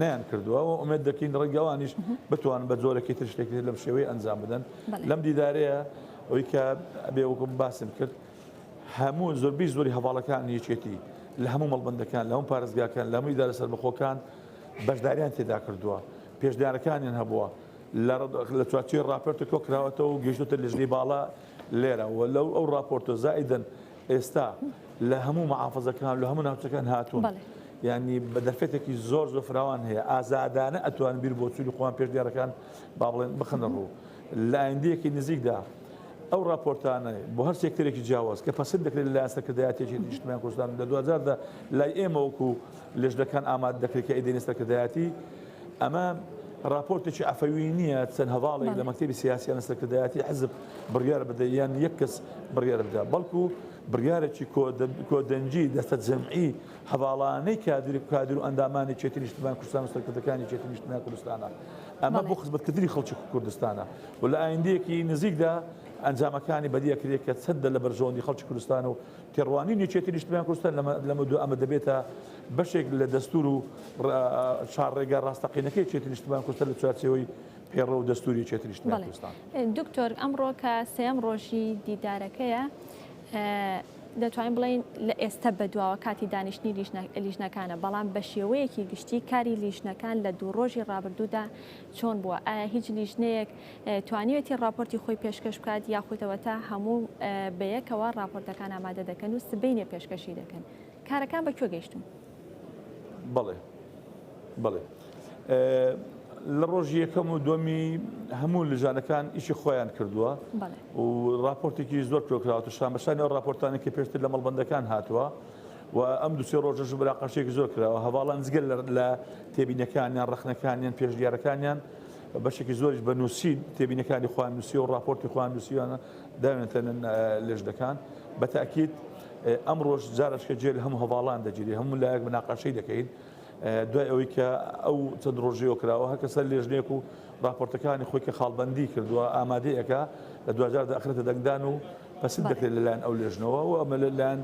نەیانکردووە و ئومێد دەکەین ڕێگە ئەوانیش بتوان بە جۆرەکی تر شتێکی تر لەم شێوەی ئەنجام بدەن لەم دیدارەیە ئەوی کە ئەبێ وەکم باسم کرد هەموو زۆربی زۆری هەواڵەکان یەکێتی لە هەموو مەڵبندەکان لە هەموو پارێزگاکان لە هەمووی دارە سەربەخۆکان بەشداریان تێدا کردووە پێشدارەکانیان هەبووە لە چوارچی راپەرتە کۆکراوەتەوە و گەشتە لەژنی باڵا لێرە و لەو ئەو راپۆرتۆ زائیدن ئێستا لە هەموو مەحافەزەکان لە هەموو ناوچەکان هاتوون بەڵێ یعنی بە دەرفەتێکی زۆر زۆر فراوان هەیە ئازادانە ئەتوان بیر بۆچووی خۆیان پێش دیارەکان با بڵێن بخەنە ڕوو لە ئایندەیەکی نزیکدا ئەو راپۆرتانە بۆ هەر سێکتەرێکی جیاواز کە پەسەند دەکرێت لە سەرکردایەتێکی نیشتمان کوردستان لە 2010دا لای ئێمە وەکو لەژنەکان ئامادە دەکرێت کە ئیدەی سەرکردایەتی ئەمە ڕاپۆرتێکی عەفەوی نییە، چەند هەڤاڵێک لە مەکتەبی سیاسییانە سەرکردایەتی حزب بڕیار بدە یان یەک کەس بڕیار بدا، بەڵکو بڕیارێکی کۆدەنگی دەستەجەمعی هەڤاڵانەی کادر و ئەندامانی کێتی نیشتیمان کوردستان و سەرکردەکانی کێتی نیشتیمان کوردستانە. ئەمە بۆ خزمەتکردنی خەڵکی کوردستانە و لە ئایندەیەکی نزیکدا ئەنجامەکانی بەدیدەکرێت کە چەندە لە بەرژەوەندی خەڵکی کوردستانە و تێڕوانینی یەکێتی نیشتمانی کوردستان لەمەودوا ئەمە دەبێتە بەشێک لە دەستوور و چاڕێگا ڕاستەقینەکەی یەکێتی نیشتمانی کوردستان لە چوارچێوەی پەیڕەو و دەستووری یەکێتی نیشتمانی کوردستان. دکتۆر ئەمڕۆ
کە سێیەم ڕۆژی دیدارەکەیە دەتوانین بڵێین لە ئێستە بەدواوە کاتی دانیشتنی لیژنەکانە بەڵام بە شێوەیەکی گشتی کاری لیژنەکان لە دوو ڕۆژی ڕابردوودا چۆن بووە ئایا هیچ لیژنەیەک توانیوێتی ڕاپۆرتی خۆی پێشکەش بکات یاخودەوەتا هەموو بەیەکەوە ڕاپۆرتەکان ئامادە دەکەن و سبینێ پێشکەشی دەکەن کارەکان بە کوێ گەیشتون بڵێ
بڵێ لە ڕۆژی یەکەم و دومی هەموو لژانەکان ئیشی خۆیان کردووە و راپۆرتێکی زۆر تۆکراوە شان بەشانی ئەو راپۆرتانی کە پێشتر لە مەڵبندەکان هاتووە و ئەم دوسێ ڕۆژەش براقەشێکی زۆر کراوە هەواڵان زگەل لە تێبینەکانیان ڕخنەکانیان پێشدیارەکانیان بەشێکی زۆریش بە نووسین تێبینەکانی خۆیان نووسیوە و ڕاپۆرتی خۆیان نووسیویانە داوێنتەنن لێژنەکان بە تاکیت ئەمڕۆژ جارشکە جێل هەم هەواڵان دەگیری هەموو لایەک مناقەشەی دەکەین دوای ئەوەی کە ئەو چەند ڕۆژیەوە کراوە هەرکەسە لێژنێک و راپۆرتەکانی خۆی کە خاڵبندی کردووە ئامادەیەکە لە دوجار داخرێتە دەنگدان و پسند دەکرێت لەلایەن ئەو لێژنەوە و ئەمە لەلایەن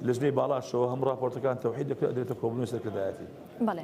لەژنەی باڵاشەوە هەم راپۆرتەکان تەوحید دەکرێت دێتە کۆبنەوەی سەرکردایەتی بەڵێ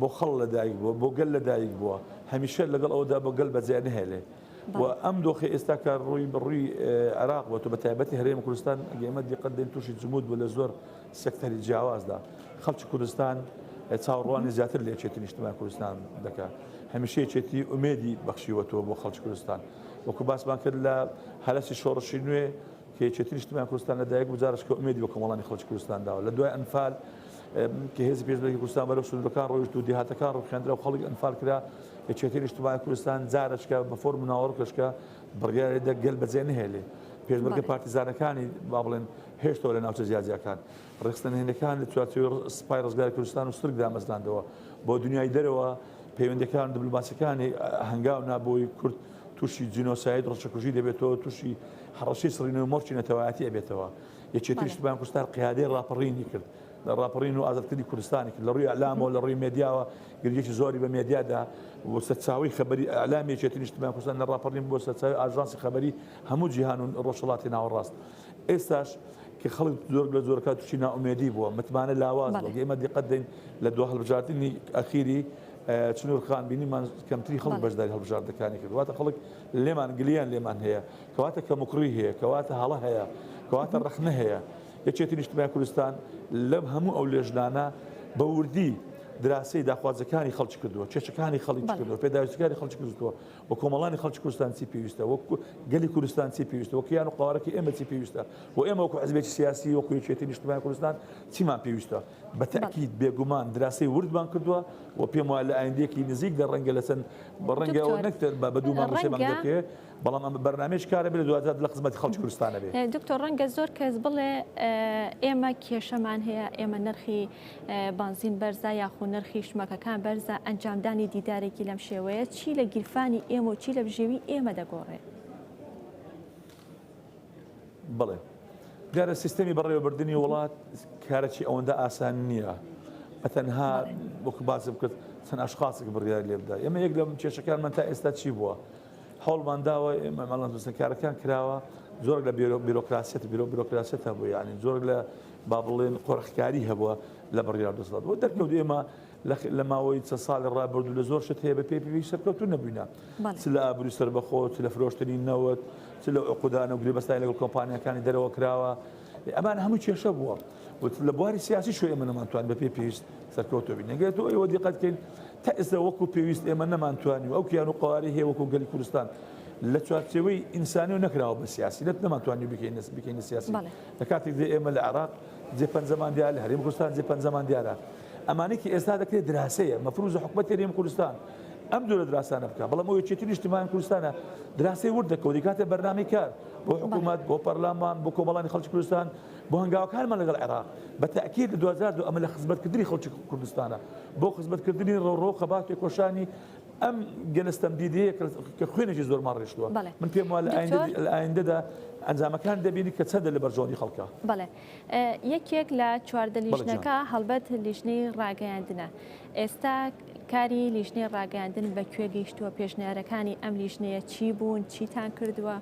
بۆ خەڵ لە دایک بووە، بۆ گەل لە دایک بووە، هەمیشە لەگەڵ ئەوەدا بۆ گەل بەجێ نەهێلێ و ئەم دۆخەی ئێستا کە ڕووی بە ڕووی عێراق بۆتە بە تایبەتی هەرێمی کوردستان ئەگەر ئێمە دیقەت دەین تووشی جمود بوو لە زۆر سێکتەری جیاوازدا خەڵکی کوردستان چاوەڕوانی زیاتر لە یەکێتی نیشتمان کوردستان دەکا هەمیشە یەکێتی ئومێدی بەخشیوەتەوە بۆ خەڵکی کوردستان وەکو باسمان کرد لە هەرەسی شۆڕشی نوێ کە یەکێتی نیشتمان کوردستان لە دایک بوو جارش کە ئومێدی بە کۆمەڵانی خەڵکی کوردستان داوە لە دوای ئەنفال کە هێزی پێشمەرگەی کوردستان بەرەو سنوورەکان ڕۆیشت و دێهاتەکان ڕووخێندرا و خەڵک ئەنفال کرا، یەکێتیی نیشتمانیی کوردستان جارەچکە بە فۆرم و ناوەڕۆکێشکە بڕیاری دا گەل بەجێ نەهێلێ. پێشمەرگە پارتیزانەکانی، با بڵێن، هێشتەوە لە ناوچە جیاجیاکان. ڕێکخستنە نهێنییەکان لە چوارچێوەی سپای ڕزگاری کوردستان و سرک دامەزراندەوە. بۆ دنیای دەرەوە پەیوەندییەکان و دبلۆماسییەکانی هەنگاو نا بۆی کورد تووشی جینۆساید، ڕچەکوژی، دەبێتەوە، تووشی هەڕەشەی سڕینەوەی مۆرکی نەتەوایەتی ئەبێتەوە. یەکێتی نیشتمانی کوردستان قیادەی ڕاپەڕینی کرد، ڕاپەڕین و ئازادکردنی کوردستانی کرد، لە ڕووی ئیعلامەوە، لە ڕووی مێدیاوە گرنگییەکی زۆری بە مێدیا دا و سەرچاوەی خەبەری ئیعلامی یەکێتی نیشتمانی کوردستان لە ڕاپەڕین بووە سەرچاوەی ئاژانسی خەبەری هەموو جیهان و ڕۆژهەڵاتی ناوەڕاست. ئێستاش کە خەڵک زۆر لە زۆرەکان تووشی نائومێدی بووە، متمانە لاواز بووە، ئێمە دیقەت دەین لە دوا هەڵبژاردنی ئەخیری چنوورخان بینیمان کەمتری خەڵک بەشداری هەڵبژاردنەکانی کرد، واتە خەڵک لێمان گلەییان لێمان هەیە. کەواتە کەموکوڕی هەیە، کەواتە هەڵە هەیە، کەواتە ڕەخنە هەیە. یەکێتی نیشتمانی کوردستان لەم هەموو ئەو لێژنانە بە وردی دراسەی داخوازەکانی خەڵکی کردووە، کێشەکانی خەڵی چ کردووە، پێداویستیکانی خەڵکی کردووە و کۆمەڵانی خەڵکی کوردستان چی پێویستە، وەک گەلی کوردستان چی پێویستە، وەک کیان و قەوارەکەی ئێمە چی پێویستە و ئێمە وەکو حزبێکی سیاسی وەکو یەکێتی نیشتمانی کوردستان چیمان پێویستە. بە تەئکید بێگومان دراسەی وردمان کردووە و پێم وایە لە ئایندەیەکی نزیکدا ڕەنگە لە چەند ڕەنگە ئەوە نەک بە دوو مانگ و سێ مانگ دەکەوێت، بەڵام ئەمە بەرنامەیەکی کارەبێ لە دواتر دادە لە خزمەتی خەڵکی کوردستانە بێ. دکتۆر ڕەنگە زۆر کەس
بڵێ ئێمە کێشەمان هەیە، ئێمە نرخی بانزین بەرزە یاخو نرخی شمەکەکان بەرزە، ئەنجامدانی دیدارێکی لەم شێوەیە چی لە گیرفانی ئێمە و چی لە بژێوی ئێمە دەگۆڕێ؟
بڵێ دیارە سیستەمی بەڕێوەبردننی وڵات کارەی ئەوەندە ئاسان نییە ئەتەنها وەکو باسم کرد چەند ئاشخاصێک بڕیار لێ بدا ئێمە یەک لەم کێشەکانمان تا ئێستا چی بووە هەوڵمان داوە مامەڵە دەستەکارەکان کراوە زۆر لە بیرۆکراسیەت بیرۆ بیرۆکراسیەت هەبوو یعنی زۆر لە با بڵێن قۆرخکاری هەبووە لە بڕیار دەسڵات بۆ دەرکەوت ئێمە لە ماوەی چە ساڵی ڕابردوو لە زۆر شت هەیە بە پێ پێوی سەرکەوتو نەبووینە چ لە ئابروی سربەخۆ چ لە فرۆشتنی نەوت چ لە عقودانە و گرێبەستانی لەگەڵ کۆمپانیەکانی دەرەوە کراوە ئەمان هەموو کێشە بووە. وت لە بواری سیاسی شو ئێمە نەمانتوان بەپێی پێویست سەرکەوتوە بین نەگرێت و ئێوە دیقەت کەین تا ئێستا وەکو پێویست ئێمە نەمانتوانی و ئەو کیان و قوارەی هەیە وەکو گەلی کوردستان لە چوارچێوەی ئینسانی و نەکراوە بە سیاسی لەت نەمانتوانی بکەین بکەین سیاسی لە کاتێک دێ ئێمە لە عراق جێ پەنجەمان دیار لە هەرێم کوردستان جێ پەنجەمان دیارە ئەمانێکی ئێستا دەکرێت دراسەیە مەفروزە حکومەت هەرێم کوردستان ئەم دوورە دراسانە بکە بەڵام ئەو یەکێتی نیشتمان کوردستانە دراسی ورد دەکەوری کاتێ بەرنامی کار بۆ حکوومەت بۆ پەرلامان بۆ کۆمەڵانی خەڵکی کوردستان بۆ هەنگاوەکانمان لەگەڵ عێراق، بە تەئکید لە دوو هەزار و دوو ئەمە لە خزمەتکردنی خەڵکی کوردستانە، بۆ خزمەتکردنی ڕۆڕۆ و خەبات و تێکۆشانی ئەم گەلە ستەمدیدەیە کە خوێنێکی زۆرمان ڕشتووە. من پێم وایە لە ئایندەدا ئەنجامەکان دەبینی کە چەندە لە بەرژەوەندی خەڵکە. بەڵێ.
یەکێک لە چواردە لیژنەکە هەڵبەت لیژنەی ڕاگەیاندنە. ئێستا کاری لیژنەی ڕاگەیاندن بە کوێ گەیشتووە، پێشنیارەکانی ئەم لیژنەیە چی بوون، چیتان کردووە؟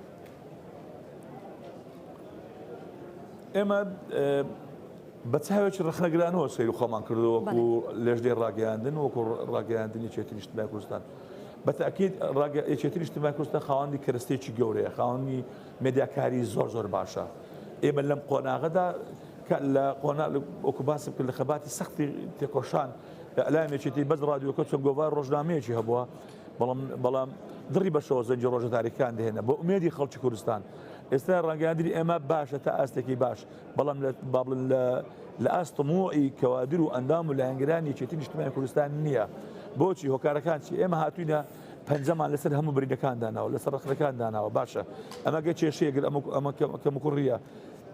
ئێمە بە چاوێکی ڕخنەگرانەوە سەیر خۆمان کردو وەکو لەژدەی ڕاگەیاندن وەکو ڕاگەیاندنی چێتی نیشتمای کوردستان. بە تاکیید ڕاگەچێتی نیشتمای کوردستان خاوەندی کەرستێکی گەورەیە خاوەنی مێدیاکاری زۆر زۆر باشە. ئێمە لەم قۆناغەدا لە قۆنا وەکو باسم کرد لە خەباتی سەختی تێکۆشان لە ئەلامێکێتی بەس ڕادیۆکە چۆن گۆڤار ڕۆژنامەیەکی هەبووە بەڵام بەڵام دڕی بەشەوە زەنگی ڕۆژە تاریکان دێنە بۆ ئومێدی خەڵکی کوردستان ئێستا ڕەنگاندری ئێمە باشە تا ئاستێکی باش بەڵام لە بابلن لە لە ئاستمۆی کەوادر و ئەندام و لایەنگرانی چێتی نیشتمانی کوردستان نییە بۆچی هۆکارەکان چی ئێمە هاتوینە پەنجەمان لەسەر هەموو برینەکان داناوە لەسەر ڕخەکان داناوە باشە ئەمەگە کێشەیەگر ئەمە ئەمە کەمکوڕیە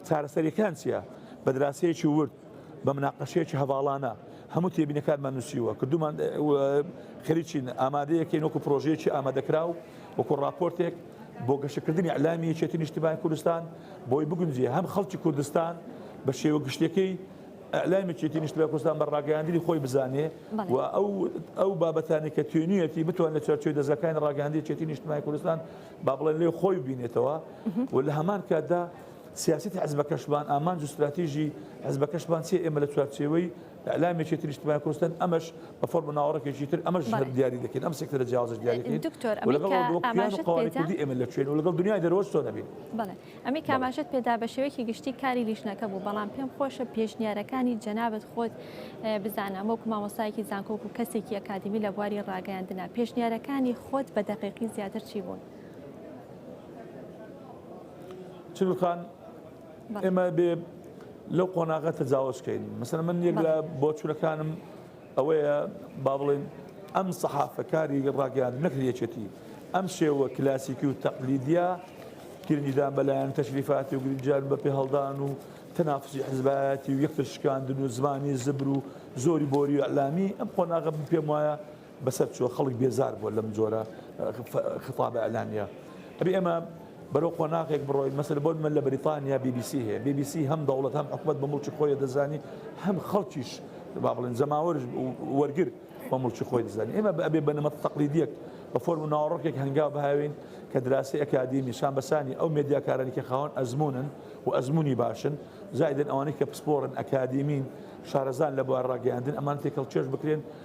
چارەسەریەکان چییە بەدراسەیەکی ورد بە مناقەشەیەکی هەڤاڵانە هەموو تێبینەکانمان نووسیوە کردومان خەریکین ئامادەیەکەین وەکو پرۆژەیەکی ئامادەکراو وەکو راپۆرتێک بۆ گەشەکردنی ئەلامی یەکێتی نیشتیمانی کوردستان بۆی بگونجێ هەم خەڵکی کوردستان بە شێوە گشتەکەی ئەلامی چێتی نیشتیمانی کوردستان بە ڕاگەیاندنی خۆی بزانێ و ئەو ئەو بابەتانی کە توێنیەتی بتوان لە چارچوی دەزگەکانی ڕاگەاندی چێتی نیشتیمانی کوردستان با بڵێن لێ خۆی بینێتەوە و لە هەمان کاتدا سیاسەتی حزبەکەشمان، ئامانج و ستراتیژی حزبەکەشمان چیە، ئێمە لە چوارچێوەی ئیعلام یەکێتی نیشتمانی کوردستان ئەمەش بە فۆرم و ناوەڕۆکێکی تر ئەمەش هەر دیاری دەکەین، ئەم سێکتەرە جیاوازەش دیاری دەکەین و لەگەڵ ئەوە دەوە کیان و قەوارەی کوردی ئێمە لە کوێن و لەگەڵ دنیای دەرەوەش چۆن ئەبین. بەڵێ ئەمەی کە
ئاماژەت پێدا بە شێوەیەکی گشتی کاری لیژنەکە بوو، بەڵام پێم خۆشە پێشنیارەکانی جەنابت خۆت بزانم وەکو مامۆستایەکی زانکۆ و کەسێکی ئەکادیمی لە بواری ڕاگەیاندنە، پێشنیارەکانی خۆت بە دەقیقی زیاتر چی بوون؟
چل خان ئێمە بێ لەو قۆناغە تەجاوزکەین مەسەر من یەک لە بۆچورەکانم ئەوەیە با بڵێن ئەم سەحافەکاری ڕاگەیان نەکرێچێتی ئەم شێوە کلاسیکی و تەقلیدیا گرنگیدان بەلایەن تەشریفاتی و گرنجان بە پێ هەڵدان و تەنافسی حزبایەتی و یەکتر شکاندن و زمانی زبر و زۆری بۆری و ئەلامی ئەم قۆناغە پێم وایە بەسەر چووە خەڵک بێزار بووە لەم جۆرە خیتابە ئیلامیە ئەبێ ئێمە بەرەو قۆناغێک بڕۆین مەسەر بۆ من لە بریتانیا BBC هەیە BBC هەم دەوڵەت هەم حکومت بە مڵکی خۆی دەزانی هەم خەڵکیش با بڵێن جەماوەر وەرگر بە مڵکی خۆی دەزانانی ئێمە ئەبێ بنەمە تەقلیدیەک بە فۆرم ناوەڕۆکێک هەنگاو بهاوین کە دراسی ئەکادیمی شان بەسانی ئەو مدیاکارانی کە خاوەن ئەزمونن و ئەزمموی باشن زایدن ئەوانەی کە پسپۆرن ئەکادیمین شارەزان لە بوار ڕاگەیاندن ئەمان تێکەڵ چێش بکرێن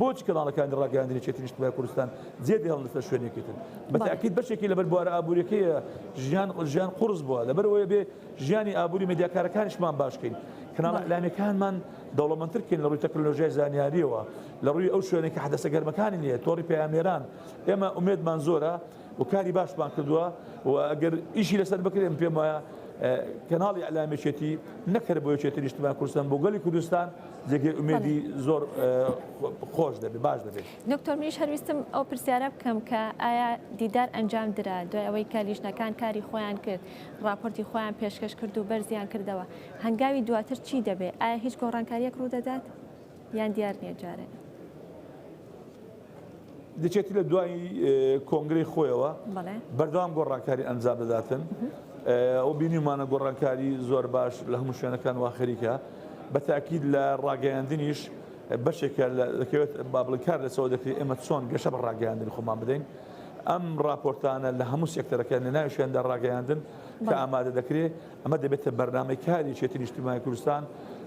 بۆچی کەناڵەکانی ڕاگەیاندنی یەکێتی نیشتمانی کوردستان جێ دێڵن لەسەر شوێنێکی تر؟ بە تەئکید بەشێکی لەبەر بوارە ئابووریەکەیە ژیان ژیان قوڕس بووە لەبەر ئەوەیە بێ ژیانی ئابووری مێدیاکارەکانیشمان باش کەین کەناڵە بەڵێ ئیلامیەکانمان دەوڵەمەندتر کەین لە ڕووی تەکنەلۆژیای زانیاریەوە لە ڕووی ئەو شوێنێک کە حەدەسە گەرمەکانی نییە تۆڕی پەیامنێران ئێمە ئومێدمان زۆرە و کاری باشمان کردووە و گەر ئیشی لەسەر بکرێت من پێم وایە کەناڵی ئەلامێکێتی نەک هەر بۆ یەکێتی نیشتمان کوردستان بۆ گەلی کوردستان جێگەی ئومێدی زۆر خۆش دەبێت باش دەبێت دکتۆر منیش هەرویستم
ئەو پرسیارە بکەم کە ئایا دیدار ئەنجام درا دوای ئەوەی کە لیژنەکان کاری خۆیان کرد راپۆرتی خۆیان پێشکەش کرد و بەرزیان کردەوە هەنگاوی دواتر چی دەبێت ئایا هیچ گۆڕانکاریەک ڕوودەدات؟ یان دیار
نیە جارێ. دەچێتی لە دوایی کۆنگرەی خۆیەوە بەردەوام گۆڕانکاری ئەنجام دەداتن ئەو بینیمانە گۆڕانکاری زۆر باش لە هەموو شوێنەکان واخەریکە بە تاکیید لە ڕاگەیاندنیش بەشێکە دەکەوێت بابلکار لەسەوە دەکرێت ئێمە چۆن گەشە بە ڕاگەیاندن خۆمان بدەین ئەم راپۆرتانە لە هەموو سێکتەرەکە لە ناوشێندا ڕاگەیاندن کە ئامادە دەکرێت ئەمە دەبێتە بەرنامەی کاری یەکێتی نیشتیمانی کوردستان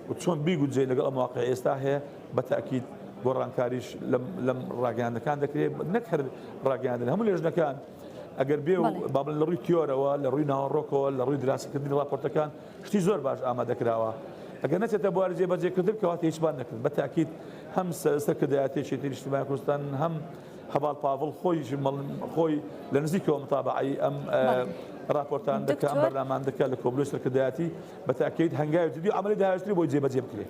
و چۆن بیگونجێت لەگەڵ ئەم واقعەی ئێستا هەیە، بە تەئکید گۆڕانکاریش لەم ڕاگەیاندنەکان دەکرێت، نەک هەر ڕاگەیاندن هەموو لێژنەکان ئەگەر بێ و با بڵێین لە ڕووی تیۆرەوە، لە ڕووی ناوەڕۆکەوە، لە ڕووی دراسەکردنی ڕاپۆرتەکان شتی زۆر باش ئامادە کراوە، ئەگەر نەچێتە بواری جێبەجێکردن کەواتە هیچمان نەکرد، بە تەئکید هەم سەرکردایەتی یەکێتی نیشتیمانی کوردستان هەم. هەڤاڵ پاڤڵ خۆیش خۆی لە نزیکەوە متابعەی ئەم راپۆرتان دەکە ئەم بەرنامان دەکە لە کۆبلۆی سەرکردایەتی بە تاکەیت هەنگاوی جدی ئەمەی داهێشتری بۆی جێبەجێ بکرێت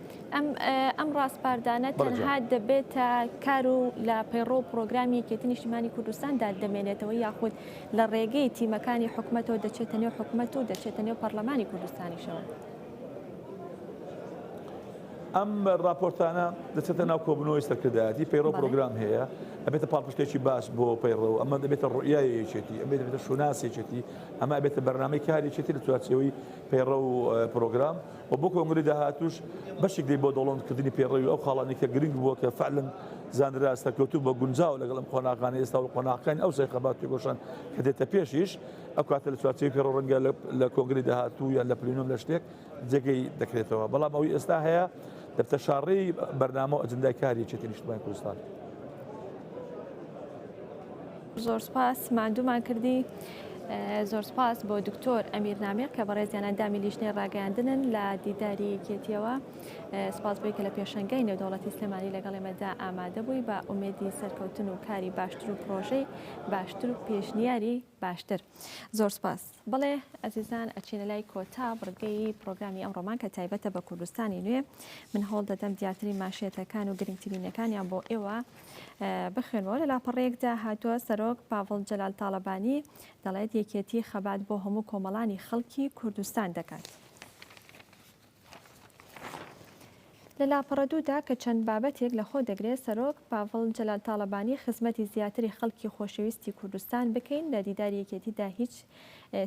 ئەم
ڕاستپاردانە تەنها دەبێتە کار و لە پەیڕۆ و پرۆگرامی یەکێتی نیشتیمانی کوردستاندا دەمێنێتەوە یاخود لە ڕێگەی تیمەکانی حکوومەتەوە دەچێتە نێو حکوومەت و دەچێتە نێو پەرلەمانی کوردستانیشەوە.
ئەم راپۆرتانە دەچێتە ناو کۆبنەوەی سەرکردایەتی پەیڕە و پرۆگرام هەیە ئەبێتە پاڵپشتێکی باش بۆ پەیڕە و ئەمە دەبێتە ڕوئای یەکێتی ئەبێت دەبێتە شوناسێکێتی ئەمە ئەبێتە بەرنامەی کارێکێتی لە چوارچەوەی پەیڕە و پرۆگرام و بۆ کۆنگری داهاتوش بەشێک دی بۆ دەوڵەمکردنی پێڕەوی ئەو خاڵانی کە گرنگ بووە کە فعلن زانرا سەرکەوتوب بە گونجاو لەگەڵم قۆناغانە ئێستا و قۆناغەکانی ئەو سەرخەبات تێگۆشان کە دێتە پێشیش ئەو کاتە لە چوارچێوی پێڕەو ڕەنگە لە کۆنگری داهاتوو یان لە پلینۆم لە شتێک جێگەی دەکرێتەوە بەڵام ئەوی ئێستا هەیە دەبتە شاڕی بەرنامە و ئەجندای کاری چێتی نیشتمان کوردستان.
زۆر سپاس مادوومان کردی. زۆر سپاس بۆ دکتۆر ئەمیر نامێر کە بەڕێزیانە دامی لیژنەی ڕاگەیاندنن لە دیداری یەکێتیەوە. سپاس بۆی کە لە پێشەنگای نێودەوڵەتی سلێمانی لەگەڵ ئێمەدا ئامادە بووی بە ئومێدی سەرکەوتن و کاری باشتر و پرۆژەی باشتر و پێشنیاری باشتر زۆر سپاس بڵێ ئەزیزان ئەچینە لای کۆتا بڕگەی پرۆگرامی ئەم ڕۆمان کە تایبەتە بە کوردستانی نوێ من هەوڵ دەدەم دیاتری ماشێتەکان و گرنگترینەکانیان بۆ ئێوە بخوێنەوە لە لاپەڕەیەکدا هاتووە سەرۆک پاڤڵ جەلال تاالبانی دەڵێت یەکێتی خەبات بۆ هەموو کۆمەڵانی خەڵکی کوردستان دەکات. لە لاپەڕە دوو دا کە چەند بابەتێک لە خۆ دەگرێ، سەرۆک پاڤڵ جەلال تاڵەبانی خزمەتی زیاتری خەڵکی خۆشەویستی کوردستان بکەین، لە دیداری یەکێتی دا هیچ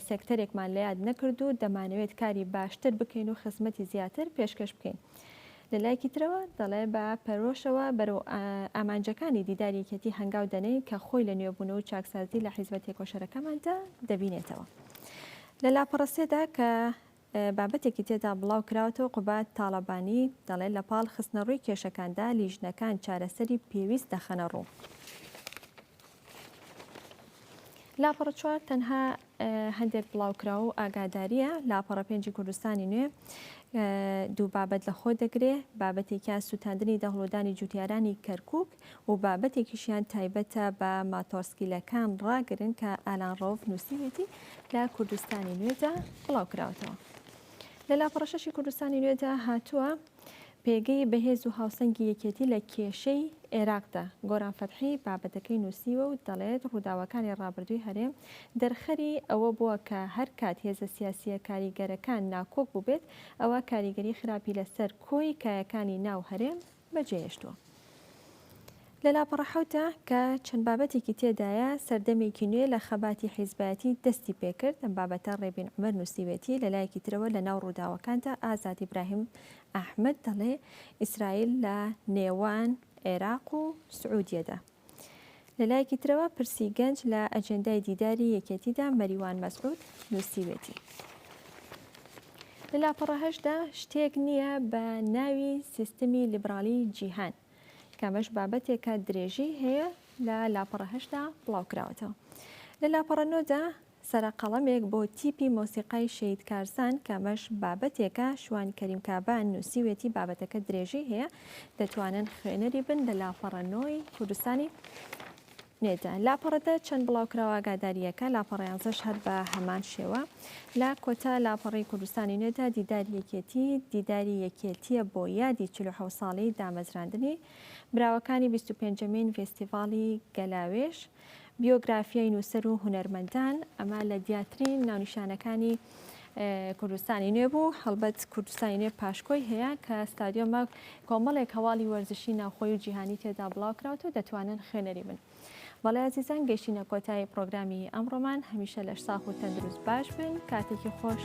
سێکتەرێکمان لە یاد نەکرد و دەمانەوێت کاری باشتر بکەین و خزمەتی زیاتر پێشکەش بکەین. لە لایەکی ترەوە دەڵێ بە پەرۆشەوە بەرەو ئامانجەکانی دیداری یەکێتی هەنگاو دەنێین کە خۆی لە نوێبوون و چاکسازی لە حیزبە تێکۆشەرەکەماندا دەبینێتەوە. لە لاپەڕە سێ دا کە بابەتێکی تێدا بڵاو کراوەتەوە قوباد تاڵەبانی دەڵێت لە پاڵ خستنەڕووی کێشەکاندا لیژنەکان چارەسەری پێویست دەخەنەڕوو. لاپەڕە چوار تەنها هەندێک بڵاوکراو و ئاگاداریە لاپەڕە پێنجی کوردستانی نوێ دوو بابەت لە خۆ دەگرێ بابەتێکیان سووتاندنی دەهڵودانی جوتیارانی کەرکک و بابەتێکیشیان تایبەتە بە ماتۆڕسکیلەکان ڕاگرن کە ئالان ڕەوف نووسیویەتی لە کوردستانی نوێدا بڵاوکراوەتەوە لە لاپەڕەشەشی کوردستانی نوێدا هاتووە پێگەی بەهێز و هاوسەنگی یەکێتی لە کێشەی عێراقدا گۆران فەتحی بابەتەکەی نووسیوە و دەڵێت ڕووداوەکانی ڕابردووی هەرێم دەرخەری ئەوە بووە کە هەر کات هێزە سیاسیە کاریگەرەکان ناکۆک بووبێت ئەوە کاریگەری خراپی لەسەر کۆی کایەکانی ناو هەرێم بەجێهێشتووە. لە لاپەڕە حەوتە، کە چەند بابەتێکی تێدایە، سەردەمێکی نوێ لە خەباتی حیزبایەتی دەستی پێکرد، ئەم بابەتە ڕێبین عومەر نووسیوێتی، لە لایەکی ترەوە لە ناو ڕووداوەکاندا ئازاد ئیبراهیم ئەحمەد دەڵێ ئیسرائیل لە نێوان عێراق و سعودیەدا، لەلایەکی ترەوە پرسی گەنج لە ئەجێندای دیداری یەکێتیدا مەریوان مەسعود نووسیوێتی لە لاپەڕە هەشدا شتێک نییە بە ناوی سیستمی لیبرالی جیهان کەمەش بابەتێکە درێژی هەیە لە لاپەڕە هەشدا بڵاوکراوەتەوە لە لاپەڕە نۆدا سەرە قەڵەمێک بۆ تیپی مۆسیقای شەهید کارزان کە ئەمەش بابەتێکە شوان کەریم کابان نوسیوێتی بابەتەکە درێژەی هەیە دەتوانن خوێنەری بن لە لاپەڕە نۆی کوردستانی نێدا لاپەڕە دە چەند بڵاوکراوە ئاگادارییەکە لاپەڕە یانزەش هەر بە هەمان شێوە لە کۆتا لاپەڕی کوردستانی نوێدا دیدار یەکێتی دیداری یەکێتیە بۆ یادی 46 ساڵی دامەزراندنی براوەکانی 25 مین فستیڤاڵی گەلاوێش بیۆگرافیای نووسەر و هونەرمەندان، ئەمە لە دیاترین ناونیشانەکانی کوردستانی نوێ بوو هەڵبەت کوردستانی نوێ پاشکۆی هەیە کە ستادیۆمە کۆمەڵێک هەواڵی وەرزشی ناوخۆی و جیهانی تێدا بڵاوکراوت و دەتوانن خوێنەری بن بەڵێ ئازیزان گەشتینە کۆتایی پرۆگرامی ئەمڕۆمان هەمیشە لەش ساخ و تەندروست باش بن کاتێکی خۆش